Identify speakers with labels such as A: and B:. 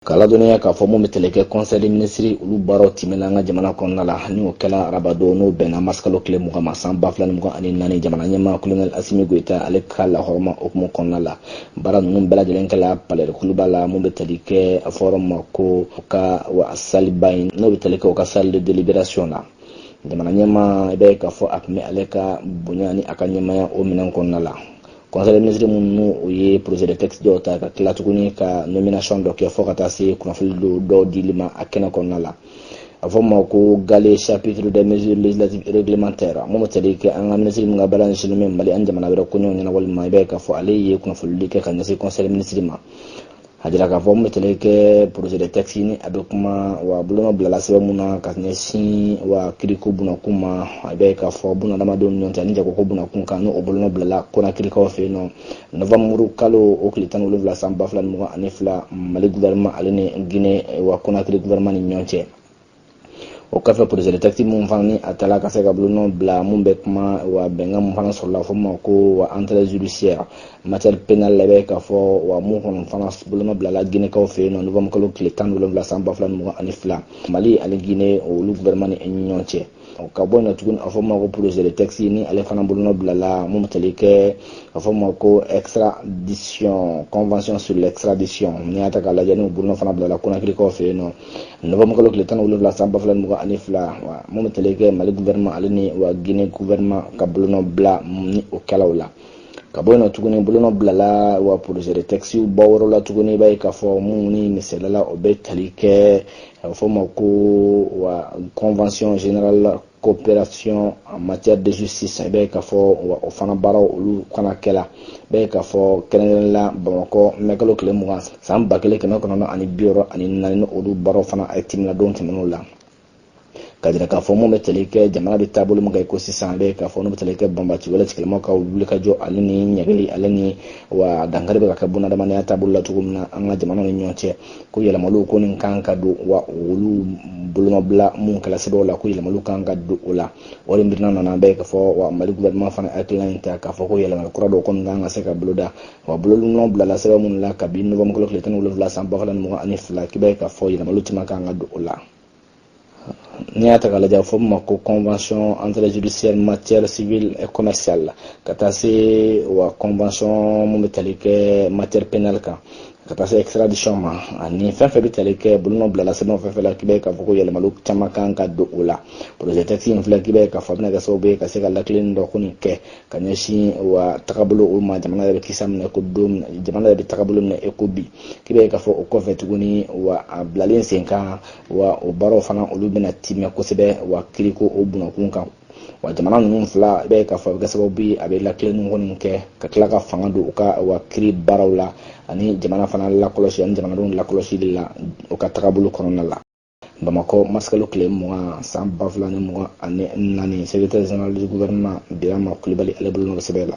A: K'a ladɔnniya k'a fɔ mun bɛ tali kɛ conseil des ministres olu baaraw timɛna an ka jamana kɔnɔna la ni o kɛla arabadon n'o bɛnna marisikalo tile mugan ma san ba fila ni mugan ani naani jamana ɲɛmaa kolonɛli asimi goyita ale ka lahɔrɔma hukumu kɔnɔna la baara ninnu bɛɛ lajɛlen kɛla palais de kuluba la mun bɛ tali kɛ a fɔra ma ko u ka wa salle ba in n'o bɛ tali kɛ u ka salle de délibération na jamana ɲɛmaa i b'a ye k'a fɔ a tun bɛ ale ka bonya ni a ka ɲɛmaya o minɛn kɔnɔna la conseil des ministres mun ni o ye projet de texte dɔw ta ka tila tuguni ka nomination dɔ kɛ fɔ ka taa se kunnafoni dɔ dɔw dili ma a kɛnɛ kɔnɔna la a fɔ ma ko gale chapitre des mesures législatives réglementaires mun bɛ tali kɛ an ka minisiri min ka baara ɲɛsinnen bɛ mali ani jamana wɛrɛ koɲɛw ɲɛnabɔli ma i b'a ye k'a fɔ ale ye kunnafonidi kɛ ka ɲɛsin conseil des ministres ma a jira k'a fɔ mun bɛ tali kɛ projet de texte ni a bɛ kuma wa bolonɔ bilala sɛbɛn mun na ka ɲɛsin wa kiriko bunakun ma i b'a ye k'a fɔ bunadamadenw ni ɲɔgɔn cɛ ani jagoko bunakun kan n'o bolonɔ bilala kɔnakirikaw fɛ yen nɔ novembre kalo o tile tan ni wolonwula san ba fila ni mugan ani fila mali guvɛrɛnman ale ni gine wa kɔnakiri guvɛrɛnman ni ɲɔgɔn cɛ o kɔfɛ projet de texte mun fana ni a tala ka se ka bolonɔ bila mun bɛ kuma wa bɛnkan mun fana sɔrɔla fɔ ma ko wa entraide judiciaire matière pénale la bɛ k'a fɔ wa mun kɔnɔ fana bolonɔ bilala ginekaw fɛ yen nɔ novembre kalo tile tan wolonwula san ba fila ni mugan ani fila mali ani guinée olu gouvernement ni ɲɔgɔn cɛ ka bɔ yen tuguni a fɔ ma ko projet de texte ni ale fana bolonɔ bilala mun bɛ tali kɛ a fɔ ma ko extradition convention sur l'extradition n'i y'a ta k'a lajɛ ni bolonɔ fana bilala konakirikaw fɛ yen nɔ novembre kalo tile tan wolonwula san ba fila mugan ani fila wa mun bɛ tali kɛ mali guvɛrɛnma ale ni wa guinée guvɛrɛnma ka bolonɔ bila ni o kɛlaw la ka bɔ yen tuguni bolonɔ bilala wa projet de texte dɔ wɛrɛ la tuguni i b'a ye k'a fɔ mun ni misaliya la o bɛ tali kɛ a bɛ fɔ o ma ko wa convention générale coopération en matière de justice i b'a ye k'a fɔ o fana baaraw olu kana kɛla i b'a ye k'a fɔ kɛrɛnkɛrɛnnen la bamakɔ mɛkalo tile mugan san ba kelen kɛmɛ kɔnɔntɔn ani bi wɔɔrɔ ani naani ni olu baaraw fana a tɛmɛna don tɛmɛn'o la ka jira k'a fɔ mun bɛ tali kɛ jamana bɛ taabolo min kan i ko sisan a bɛ k'a fɔ n'u bɛ tali kɛ banbaanci wale tigilamaw ka wulikajɔ ale ni ɲangili ale ni wa dankari bɛ ka kɛ bunadamadenya taabolo la cogo min na an ka jamanaw ni ɲɔgɔn cɛ ko yɛlɛmaliw kɔni kan ka don wa olu bolonɔbila mun kɛla sɛbɛnw la ko yɛlɛmaliw kan ka don o la o de miirina nana i b'a ye k'a fɔ wa mali gouvernement fana hakilina in ta k'a fɔ ko yɛlɛmali kura dɔw kɔni kan ka se ka boloda wa bolonɔ bilala sɛbɛn minnu la kabi novembre kalo tile tan ni wolonwula san ba fila ni mugan ani fila k'i b'a ye k'a fɔ yɛlɛmaliw caman kan ka don o la n'i y'a ta k'a lajɛ a bɛ fɔ min ma ko convention entraide judiciaire matière civile et commerciale la ka taa se wa convention min bɛ tali kɛ matière pénale kan ka taa se extradition ma ani fɛn fɛn bɛ tali kɛ bolonɔ bilala sɛbɛnw fɛn fɛn la k'i b'a ye k'a fɔ ko yɛlɛmaliw caman kan ka don o la projet texte in filɛ k'i b'a ye k'a fɔ a bɛna kɛ sababu ye ka se ka lakilenni dɔ kɔni kɛ ka ɲɛsin wa tagabolo o ma jamana yɛrɛ bɛ kisa minɛ ko don jamana yɛrɛ bɛ tagabolo minɛ e ko bi k'i b'a ye k'a fɔ o kɔfɛ tuguni wa a bilalen sen kan wa o baaraw fana olu bɛna timɛ kosɛbɛ wa kiriko o bunakun kan wa jamana ninnu fila i b'a ye k'a fɔ a bɛ kɛ sababu ye a bɛ lakilenni kɔni kɛ ka tila ka fanga don u ka wa kiri baaraw la ani jamana fana lakɔlɔsi ani jamanadenw lakɔlɔsili la u ka tagabolo kɔnɔna la bamakɔ marisikalo tile mugan san ba fila ni mugan ani naani secrétaire général du gouvernement birama kulibali ale bolonɔ sɛbɛn la